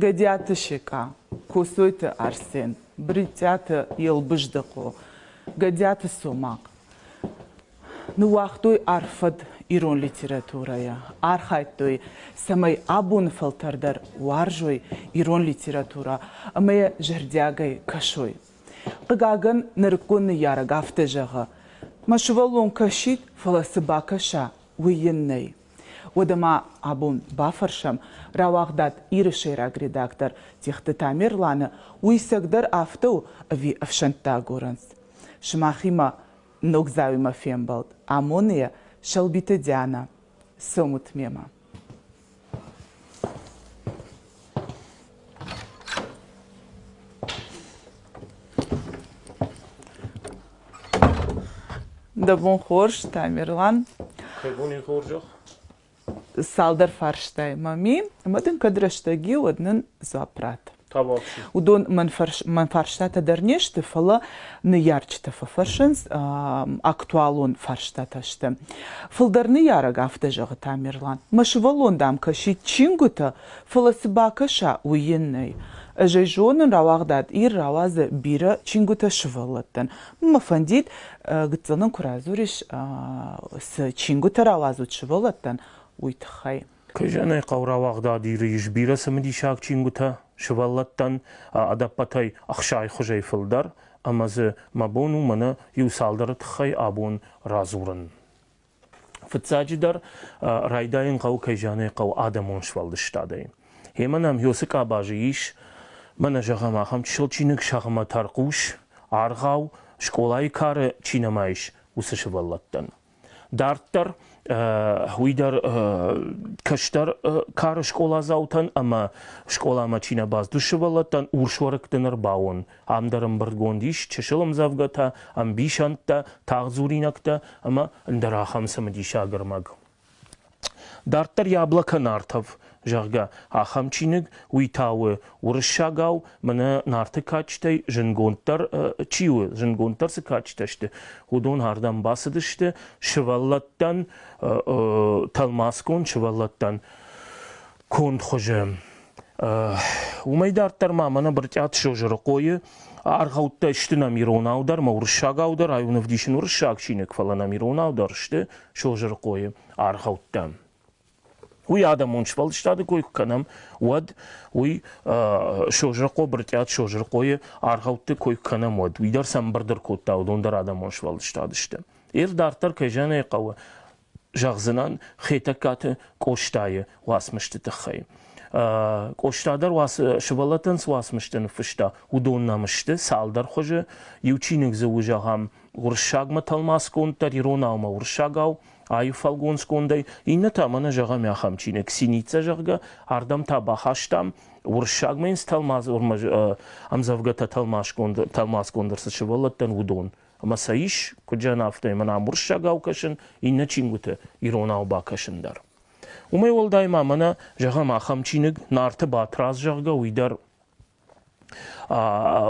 Гӕдиаты Секъа, Коцойты Арсен, Бритъиаты Елбыздыхъо, Гӕдиаты Цомахъ. Ныууагътой арфӕд ирон литературӕйӕ, архайдтой, цӕмӕй абоны фӕлтӕр дӕр уарзой ирон литературӕ ӕмӕ йӕ зӕрдиагӕй кӕсой. Хъыгагӕн, нырыккон ныййарӕг афтӕ зӕгъы, Мӕ сывӕллон кӕсид, фӕлӕ цы бакӕса, уый йын нӕй. Уӕдӕ ма абон бафӕрсӕм, рауагъдат Иры сӕйраг редактор Техты Тамерланы, уый сӕгдӕр афтӕ у ӕви ӕфсӕнттӕ агурынц? Сымахимӕ Ногдзауимӕ фембӕлд амоны йӕ Сӕлбиты Диана. Цӕмут мемӕ. Дӕ бон хорз, Тамерлан. Хӕбуни хорзӕх. цалдӕр фарстайы ма мин, ӕмӕ дын кӕд рӕстӕг и, уӕд нын дзуапп ратт. Уыдон мӕн, фарс, мӕн фарстатӕ дӕр не сты, фӕлӕ ныййарджытӕ фӕфӕрсынц, актуалон фарстатӕ сты. Фылдӕр ныййарӕг афтӕ зӕгъы, Тамерлан, мӕ сывӕллон дӕм кӕсид чингуытӕ, фӕлӕ цы бакӕса, уый йын нӕй. Ӕз ӕй зонын, рауагъдад Ир рауадзы бирӕ чингуытӕ сывӕллӕттӕн, Мӕ фӕндид гыццылон куы радзурис цы чингуытӕ рауадзут сывӕллӕттӕн, уый тыххӕй. Кызӕнӕй хъӕу рауагъдад Иры ис бирӕ цымыдисаг чингуытӕ сывӕллӕттӕн, ӕдӕппӕтӕй ӕхсайхуызӕй фылдӕр, ӕмӕ дзы мӕ бон у мӕнӕ иу цалдӕры тыххӕй абон радзурын. Фыццаджыдӕр, райдайын хъӕуы, кӕй зӕгъын ӕй хъӕуы, адӕмон сфӕлдыстадӕй. Гъемӕ нӕм Йосы къабазы ис, мӕнӕ зӕгъӕм, ахӕм чысыл чиныг Сӕгъмӕ тӕрхъус, аргъау, скъолайы кары чи нӕма ис, уыцы сывӕллӕттӕн. Дарддӕр уый дӕр кӕстӕр кары скъоладзаутӕн ӕмӕ скъоламӕ чи нӕ бацыд, уыцы сывӕллӕттӕн урсуӕрыкты ныр бауон Ам дӕр ӕмбырдгонд ис чысыл ӕмдзӕвгӕтӕ, ӕмбисӕндтӕ, тагъддзуринӕгтӕ ӕмӕ ӕндӕр ахӕм цымыдисаг ӕрмӕг. Дарддӕр Яблоко Нартов, зӕгъгӕ, ахӕм чиныг, уый та у уырыссагау, мӕнӕ Нарты кадджытӕй зынгонддӕр чи у, зынгонддӕр цы кадджытӕ сты, уыдон ардӕм бацыдысты сывӕллӕттӕн, тӕлмацгонд сывӕллӕттӕн конд хуызы. Уымӕй дарддӕр ма мӕнӕ Брытъиаты Созырыхъойы аргъӕуттӕ сты нӕм иронау дӕр, ма уырыссагау дӕр, ай уын ӕвдисын уырыссаг чиныг, фӕлӕ нӕм иронау дӕр сты Созырыхъойы аргъӕуттӕ. Уый адӕмон сфӕлдыстады кой куы кӕнӕм, уӕд уый Созырыхъо, Брытъиат Созырыхъойы аргъӕутты кой куы кӕнӕм, уӕд уый дӕр сӕ ӕмбырд ӕркодта, уыдон дӕр адӕмон сфӕлдыстад сты. Ир дарддӕр кӕй зӕгъын ӕй хъӕуы, зӕгъдзынӕн Хетӕгкаты Къостайы уацмысты тыххӕй. Къоста дӕр уацы сывӕллӕттӕн цы уацмыстӕ ныффыста, уыдон нӕм сты цалдӕр хуызы. Иу чиныг дзы у, зӕгъӕм, уырыссагмӕ тӕлмацгонддӕр, иронаумӕ уырыссагау, аив фӕлгонцгондӕй, иннӕ та мӕнӕ зӕгъӕм ахӕм чиныг Синица, зӕгъгӕ, ардӕм та бахастам, уырыссагмӕ йын цы тӕлмац ӕмдзӕвгӕтӕ тӕлмацгонд тӕлмацгонд ӕрцыд сывӕллӕттӕн, уыдон. Ӕмӕ сӕ ис куыдзӕн афтӕ мӕн ӕмбуырсӕгау кӕсын, иннӕ чингуыты иронау бакӕсын дӕр. Уымӕй уӕлдай ма мӕнӕ, зӕгъӕм, ахӕм чиныг Нарты Батрадз, зӕгъгӕ, уый дӕр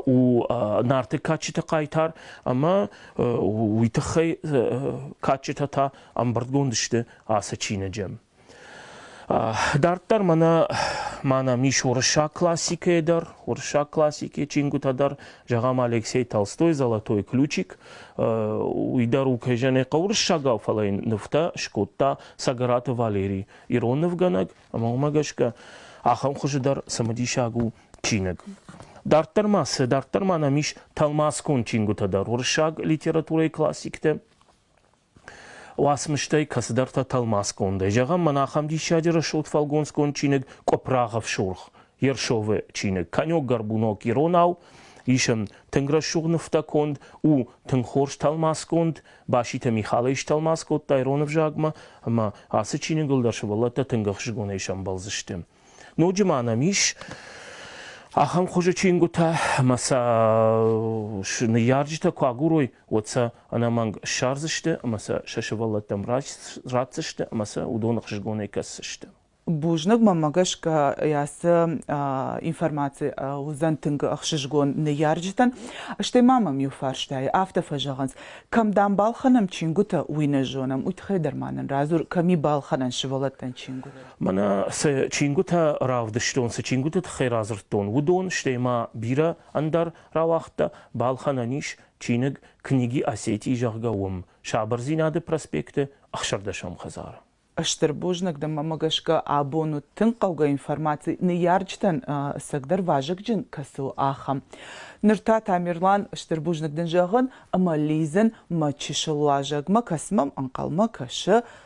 у Нарты кадджыты хъайтар, ӕмӕ уый тыххӕй кадджытӕ та ӕмбырдгонд сты ацы чиныджы. Дарддӕр мӕнӕ мӕнӕ ис уырыссаг классикӕйы дӕр, уырыссаг классикӕйы чингуытӕ дӕр, зӕгъӕм, Алексей Толстой «Золотой ключик», уый дӕр у кӕй зӕгъын хъӕуы уырыссагау, фӕлӕ йын нывтӕ скодта Цӕгӕраты Валерий, ирон нывгӕнӕг, ӕмӕ уымӕ гӕсгӕ ахӕм хуызы дӕр цымыдисаг у чиныг. Дарддӕр ма цы? Дарддӕр ма нӕм ис тӕлмацгонд чингуытӕ дӕр уырыссаг литературӕйы классиктӕ, Уацмыстӕй кӕцыдӕртӕ тӕлмацгондӕй зӕгъӕм, мӕн ахӕм диссаджы рӕсугъд фӕлгонцгонд чиныг Къуыпрагъов сурх Ершовы чиныг. Конек горбунок иронау, ис ын тынг рӕсугъд нывтӕ конд, у тынг хорз тӕлмацгонд. Баситы Михал ӕй стӕлмац кодта ирон ӕвзагмӕ, ӕмӕ ацы чиныгыл дӕр сывӕллӕттӕ тынг ӕхсызгонӕй сӕмбӕлдзысты. Ноджы ма нӕм ис ахӕм хуызы чингуытӕ, ӕмӕ сӕ ныййарджытӕ куы агурой, уӕд сӕ ӕнӕмӕнг ссардзысты ӕмӕ сӕ сӕ сывӕллӕттӕм ратдзысты ӕмӕ сӕ уыдон ӕхсызгонӕй кӕсдзысты. Бузныгмӕ гӕсгӕ ацы информаци уыдзӕн тынг ӕхсызгон ныййарджытӕн, стӕй ма мӕм иу фарстайы афтӕ фӕзӕгъынц, кӕм дам балхӕнӕм чингуытӕ, уый нӕ зонӕм, уый тыххӕй дӕр ма нын радзур, кӕм и балхӕнӕн сывӕллӕттӕн чингуытӕ. Мӕнӕ цы чингуытӕ равдыстон, цы чингуыты тыххӕй радзырдтон, уыдон, стӕй ма бирӕ ӕндӕр рауагъдтӕ, балхӕнӕн ис чиныг Книги Осетии, зӕгъгӕ, уым, Сабырдзинады проспекты ӕхсӕрдӕсӕм хӕдзары. Стыр бузныг дӕм, мӕмӕ гӕсгӕ абон уыд тынг хъӕугӕ информаци, ныййарджытӕн ӕцӕгдӕр вазыгджын кӕцыл, ахӕм. Ныр та, Тамерлан, стыр бузныг дын зӕгъын ӕмӕ лидзын мӕ чысыл уазӕгмӕ, кӕцы мӕм ӕнхъӕлмӕ кӕсы,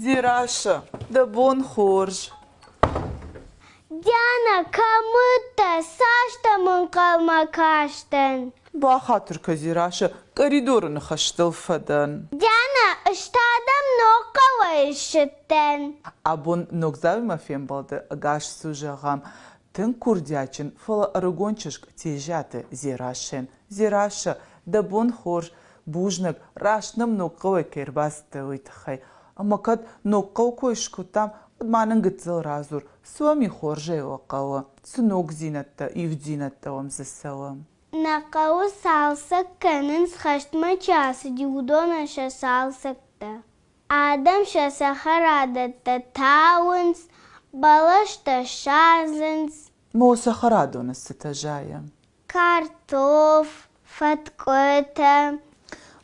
Дзерассӕ, дӕ бон хорз! Диана, кӕм уыдтӕ? Цас дӕм ӕнхъӕлмӕ кастӕн? Бахатыр кӕ, Дзерассӕ, къӕридоры ныхӕстыл фӕдӕн. Диана, ӕз та дӕм ног хъӕуӕй ссыдтӕн. Абон ногдзавимӕ фембӕлды ӕгас цы зӕгъӕм, тынг курдиатджын, фӕлӕ ӕрыгон чызг тезӕты Дзерассӕн. Дзерассӕ, дӕ бон хорз, бузнаг раст нӕм ног хъӕуӕй кӕй ӕрбацыдтӕ уый тыххӕй ӕмӕ кӕд ног хъӕу кой скодтам уӕд ма нын гыццыл радзур суоми хорзӕй уӕ хъӕуы цы ногдзинӕдтӕ ивддзинӕдтӕ уӕм дзы цӕуы нӕ хъӕуы цалцӕг кӕнынц хӕстмӕ чи ацыди уыдонӕн сӕ цалцӕгтӕ адӕм сӕ цӕхӕрадӕттӕ тауынц бӕлӕстӕ садзынц мо цӕхӕрадоны цытӕ зайы Картоф, фӕткъуытӕ.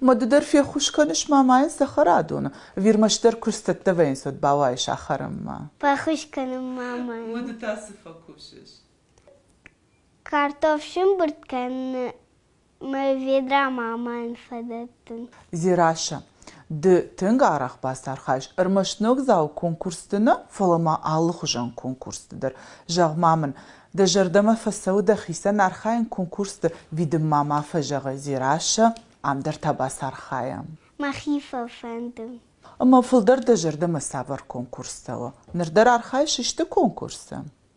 Мады дӕр феххуыс кӕныс мамайӕн цӕхӕрадоны? Вирмӕ дӕр куы сцӕттӕ вӕййынц, уӕд бауайы сахарынмӕ. Фӕххуыс кӕнын мамайӕн. Мады та цы фӕкусыс? Картоф сымбырд кӕныны ведра мамайӕн фадат. Дзерассӕ, ды тынг арӕх бацархайыс ӕрмӕст ногдзау конкурсты нӕ, фӕлӕ ма алыхуызон конкурсты дӕр. Зӕгъ-ма мын, дӕ зӕрдӕмӕ фӕцӕуы дӕхицӕн архайын конкурсты? Видын-ма ма фӕзӕгъы, Дзерассӕ, ам дӕр та бацархайӕм. Мӕхи фӕфӕнды. Ӕмӕ фылдӕр дӕ зӕрдӕмӕ цавӕр конкурс цӕуы? Ныр дӕр архайыс исты конкурсы?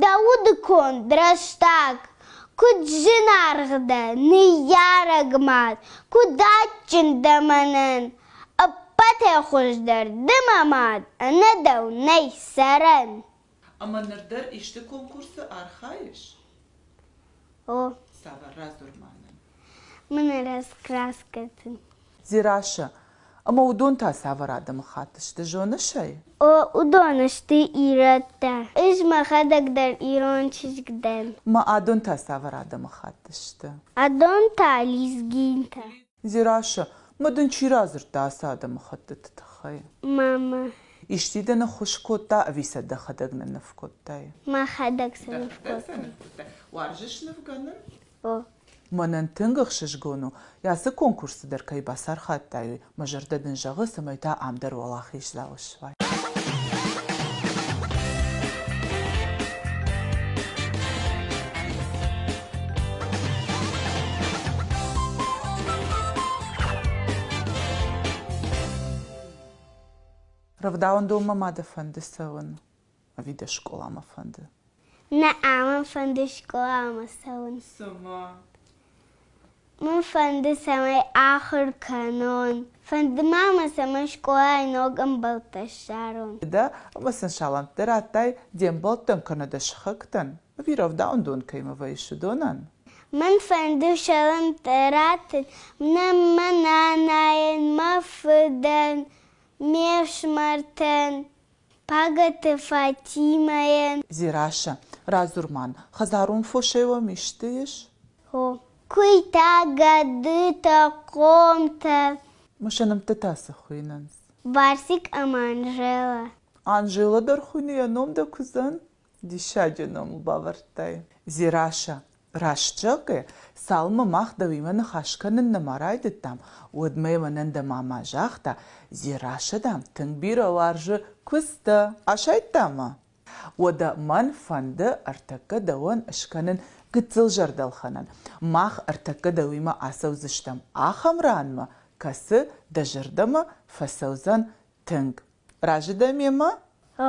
Дӕ удыконд рӕстӕг куыд зынаргъ дӕ, ныййарӕг мад, куыд адджын дӕ мӕнӕн! Ӕппӕтӕй хуыздӕр ды мӕ мад, ӕнӕ дӕу нӕй сӕрӕн! Ӕмӕ ныр дӕр исты конкурсы архайыс? О. Цавӕр радзур ма нын? Мын раскраскӕ цы. Дзерассӕ. Ӕмӕ уыдон та цавӕр адӕмыхатт сты, зоныс ӕй? О, уыдон сты ирӕттӕ. Ӕз мӕхӕдӕг дӕр ирон чызг дӕн. Мӕ адон та цавӕр адӕмыхатт сты? Адон та лезгинтӕ. Дзерассӕ. Ма дын чи радзырдта ацы адӕмыхӕттыты тыххӕй? Мама. Исчи дӕ ныххуыс кодта ӕви сӕ дӕхӕдӕг нынныв кодтай? Мӕхӕдӕг сӕ ныв кодтон. Уарзыс нывгӕнын? Мӕнӕн тынг ӕхсызгон у, ацы конкурсты дӕр кӕй бацархайдтай, мӕ зӕрдӕ дын зӕгъы, цӕмӕй та ам дӕр уӕлахиздзау суай. Рӕвдауӕндонмӕ ма дӕ фӕнды цӕуын? ӕви дӕ скъоламӕ фӕнды? Нӕ ӕмӕ фӕнды скъоламӕ цӕуын. Цымӕ? Мын фӕнды, цӕмӕй ахуыр кӕнон. Фӕнды ма мӕ, цӕмӕй скъолайы ног ӕмбӕлттӕ ссарон. Дӕ лысын салӕнттӕ радтай де мбӕлттӕн кӕнӕ дӕ сыхӕгтӕн, ӕви рӕвдауӕндон кӕимӕ вӕййыс, уыдонӕн? Мын фӕнды салӕнттӕ раттын нӕ мӕ нанайӕн, мӕ фыдӕн, ме фсымӕртӕн. Пагӕты Фатимӕйӕн. Дзерассӕ, радзур мӕн, хӕдзарон фосӕй уӕм исты ис? Хо. Куыйтӕ, гӕдытӕ, хъомтӕ. Мысӕнмттытӕ цы хуыйнынц? Барсик ӕмӕ Анжелӕ. Анжелӕ дӕр хуыйны, йӕ ном дӕ куыдзӕн? Диссаджы номыл бавӕрдтай. Дзерассӕ, раст зӕгъгӕ, цалынмӕ мах дӕуимӕ ныхас кӕнын нӕма райдыдтам, уӕдмӕ мӕнӕн дӕ-ма-ма загъта, Дзерассӕ, дам, тынг бирӕ уарзы куыдзтӕ. Асайдта мӕ? Уӕдӕ мӕн фӕнды ӕртӕккӕ дӕуӕн скӕнын гыццыл зӕрдӕлхӕнӕн. Мах ӕртӕккӕ дӕуимӕ ацӕудзыстӕм ахӕм ранмӕ, кӕцы дӕ зӕрдӕмӕ фӕцӕудзӕн тынг. Разы дӕ мемӕ? А,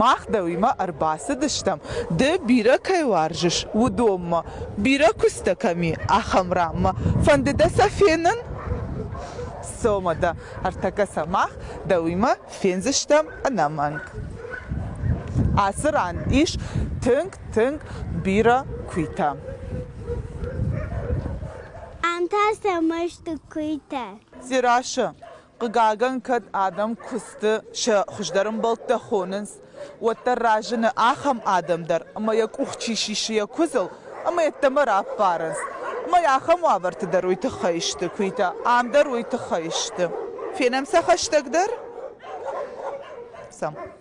Мах дӕуимӕ ӕрбацыдыстӕм, ды бирӕ кӕй уарзыс, уыдонмӕ, бирӕ куыстӕ кӕм и, ахӕм ранмӕ. Фӕнды дӕ сӕ фенын? Цомӕ дӕ, ӕртӕккӕ сӕ мах дӕуимӕ фендзыстӕм ӕнӕмӕнг. Ацы ран ис тынг, тынг бирӕ куыйтӕ. Ам та сӕ мӕсты куыйтӕ. Дзерашы, Хъыгагӕн, кӕд адӕм куысты сӕ хуыздӕр ӕмбӕлттӕ хонынц, уӕддӕр разыны ахӕм адӕм дӕр, ӕмӕ йӕ къух чи сисы йӕ куыдзыл ӕмӕ йеддӕмӕ раппарынц. Ӕмӕ ахӕм уавӕрты дӕр уый тыххӕй сты куыйтӕ, ам дӕр уый тыххӕй сты. Фенӕм сӕ хӕстӕгдӕр.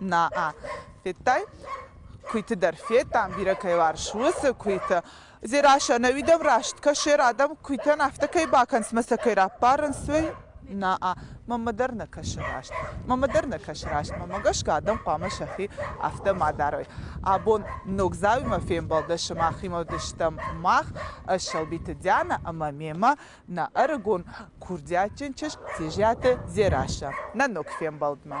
Наа. Федтай? Куыйты дӕр федтам, бирӕ кӕй уарз, уыцы куыйты. Дзерассӕ, ӕнӕуидӕм раст кӕсер, адӕм куыйтӕн афтӕ кӕй бакӕнынц мӕ сӕ кӕй раппарынц, уый? Наа. Мӕнмӕ дӕр нӕ кӕсы раст. Мӕнмӕ дӕр нӕ кӕсы раст. Мӕнмӕ гӕсгӕ адӕм хъуамӕ сӕхи афтӕ ма дарой. Абон Ногдзаумӕ фембӕлды сымахимӕ уыдыстӕм мах, Сӕлбиты Диана ӕмӕ мемӕ нӕ ӕрыгон курдиатджын чызг Тежиаты Дзерассӕ нӕ ног фембӕлдмӕ.